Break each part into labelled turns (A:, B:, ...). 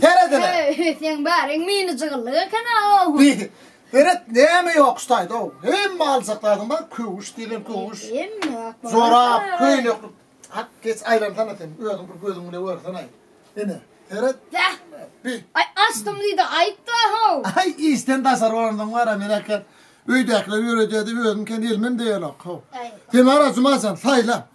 A: Seredene. Öý, seň bäriň mini jygyllyk eken-a, ow. Seret, näme ýok şu taýda, ow. Hemme aljak zadyň bar, köwüş diýlen köwüş. Hemme akmyrat. Jorap, köýnekli. Ak, geç aýlansana sen, özüň bir gözüň bile görsene-aý. Ine, seret. Bäh. Bi. Aý, açdym diý-de, aýt-da, how. Aý, işden daşary bolansoň bar-a, men äkler öýdäkiler ýöredýär diýip özüm kän elmem deýenok, how. Aý. Sen bar-a, Jumajan, saýla.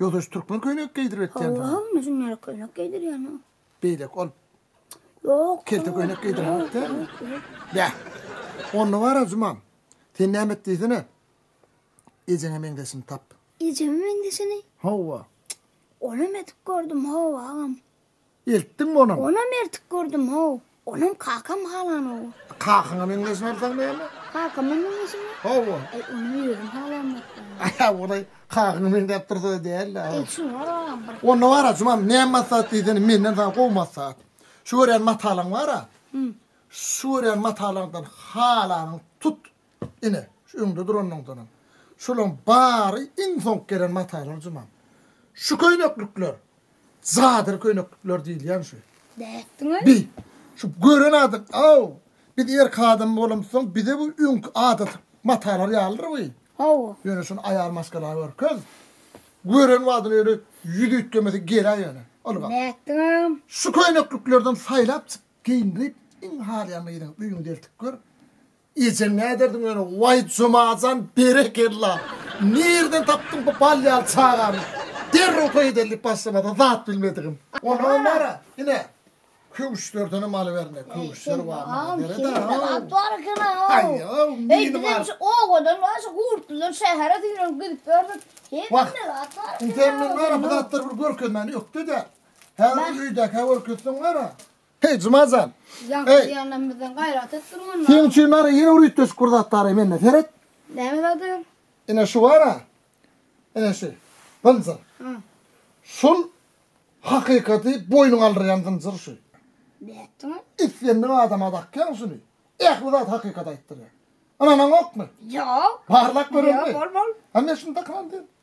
A: Ýogsa şu türkmen köýnek geýdirip etýän. Hawa, munuň ýaly köýnek geýdirýän o. Beýleki ol. Ýok. Kelte köýnek geýdirýän däl. Ýa. Onda bara Juman. Sen näme et diýsene. Ejeňe meňzeşini tap. Ejeme meňzeşini? Hawa. Onam edip gördüm, hawa agam. Eltdiňmi onam? Onam eltip gördüm-ow. Onam kakam halan-ow. Kakaňa meňzeş bolsaň näme? Kakama meňzeşem. Hawa. Eý, ony özüm halamokdym. Aý, ol-aý, kakaňa meňzäp dursa-da däl-le. Eý, şuny alalym bir. Onda bar-a, Juman, näme maslahat diýsene, menden saňa gowy maslahat. Şu görýän matalaň bar-a. Şu görýän matalaňdan halanyňy tut. Ine, şu öňde duranyňdanam. Şolaň bary iň soňky gelen matalar jumam. Şu köýneklikler, cadyr köýneklikler diýilýän şu. Nätdiň öý? Bi, şu gören adam, aw, biz erk adam bolamyzsoň, bize bu öňki adaty matalar ýalydyr bu. Hawa. Ýöne şuny aýal maşgala görkez. Gören wagtyny öýle ýüz üýtgemesi gelä ýöne. Ylgap. Nätdiň agam? Şu köýnekliklerden saýlap çyk, geýindirip, iň halaýan gyzyňy öýüňi deltip gör. Ejeň näderdiň ýöne waý Jumajan berekella. Nirden tapdyň bu bal ýaly çagany. Derrew toý edeli diýip başlamada zat bilmedigim. Onagam bara ine köwüşlerdenem alyber ine köwüşler bar Heý Juma jan. Ýaňky diýýänden bizden gaýrat et durmanda. Seň üçin bar-a ýene bir üýtgeşik bir zat bar-a mende seret. Näme zady? Ine şu bar-a. Ine şu. Zynjyr. Hä. Şul hakykaty boýnuňa aldyrýan zynjyr şu. Nätdiň? Islendik adama dakýaň şuny. Ähli zat hakykat aýtdyrýar. Ynanaňokmy? Ýok. Barlap göreliň. Ýok, bol bol. Hany men şuny dakynan diýen.